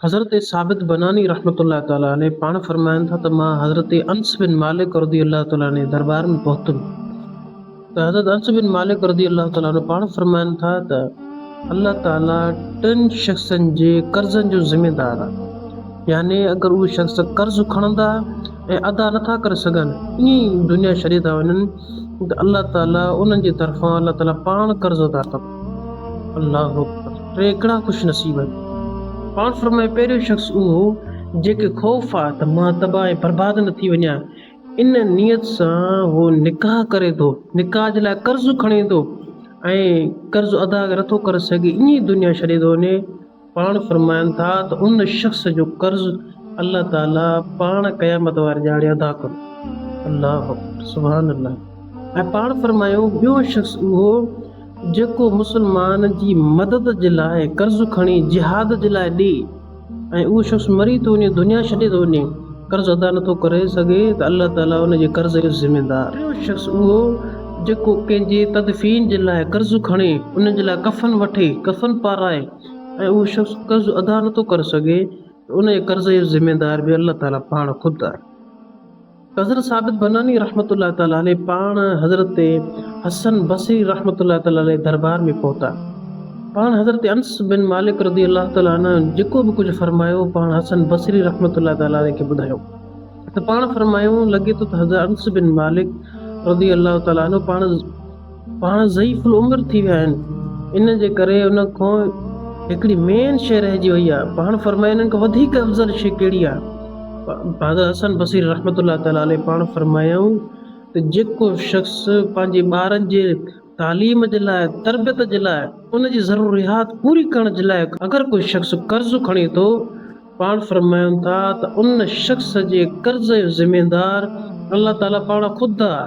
حضرت ثابت بناني رحمة الله تعالٰي عليه پاڻ فرمائن ٿا ته مان حضرت انس بن مالڪ رضي الله تعالٰي عنه جي دربار ۾ پهتم ته حضرت انس بن مالڪ رضي الله تعالٰي عنه پاڻ فرمائن ٿا ته الله تعالٰي ٽن شخصن جي قرضن جو ذميدار آهي يعني اگر اهي شخص قرض کڻندا ۽ ادا نٿا ڪري سگهن ائين دنيا ڇڏي ٿا وڃن ته الله تعالٰي انهن جي طرفان الله تعالٰي پاڻ قرض ادا ڪندو الله اڪبر ٽي ڪهڙا خوش نصيب آهن پاڻ فرمائي پهريون شخص اهو جنهنکي خوف آ ته مان تباهه ۽ برباد نه ٿي وڃان ان نيت سان هو نڪاح ڪري ٿو نڪاح جي لاء قرض کڻي ٿو ۽ قرض ادا نٿو ڪري سگهي ايئن دنيا ڇڏي ٿو وڃي پاڻ فرمائن ٿا ته ان شخص جو قرض الله تعالي پاڻ قيامت واري ڏهاڙي ادا ڪندو. الله اڪبر سبحان الله ۽ پاڻ فرمايون ٻيو شخص اهو جيڪو مسلمان جي مدد جي لاء قرض کڻي جهاد جي لاء ڏي ۽ اهو شخص مري ٿو وڃي دنيا ڇڏي ٿو وڃي قرض ادا نٿو ڪري سگهي ته الله تعالي ان جي قرض جو ذميدار. ٽيون شخص اهو جيڪو ڪنهن جي تدفين جي لاء قرض کڻي ان جي لاء ڪفن وٺي ڪفن پارائي. ۽ اهو شخص قرض ادا نٿو ڪري سگهي ته انهيء قرض جو ذميوار به الله تعاليٰ پاڻ خود آهي. حضرت ثابت بناني رحمة الله تعاليٰ عليه پاڻ حضرت حسن بصري رحمة الله تعاليٰ عليه دربار ۾ پهتا. پاڻ حضرت انس بن مالڪ رضي الله تعاليٰ عنه جيڪو به ڪجهه فرمايو، پاڻ حسن بصري رحمة الله تعاليٰ عليه کي ٻڌايو ته پاڻ فرمايو، لڳي ٿو ته حضرت انس بن مالڪ رضي الله تعاليٰ عنه پاڻ پاڻ ضعيف العمر ٿي ويا آهن ان جي ڪري ان کان هڪڙي مين شيء رهجي وئي آهي پاڻ فرمايو انهن کان وڌيڪ افضل شيء ڪهڙي آهي حضرت حسن بصير رحمت الله تعالي عليه پاڻ فرمايائون ته جيڪو شخص پنهنجي ٻارن جي تعليم جي لاء تربيت جي لاء ان جي ضروريات پوري ڪرڻ جي لاء اگر ڪو شخص قرض کڻي ٿو پاڻ فرمايون ٿا ته ان شخص جي قرض جو ذميوار الله تعالي پاڻ خود آهي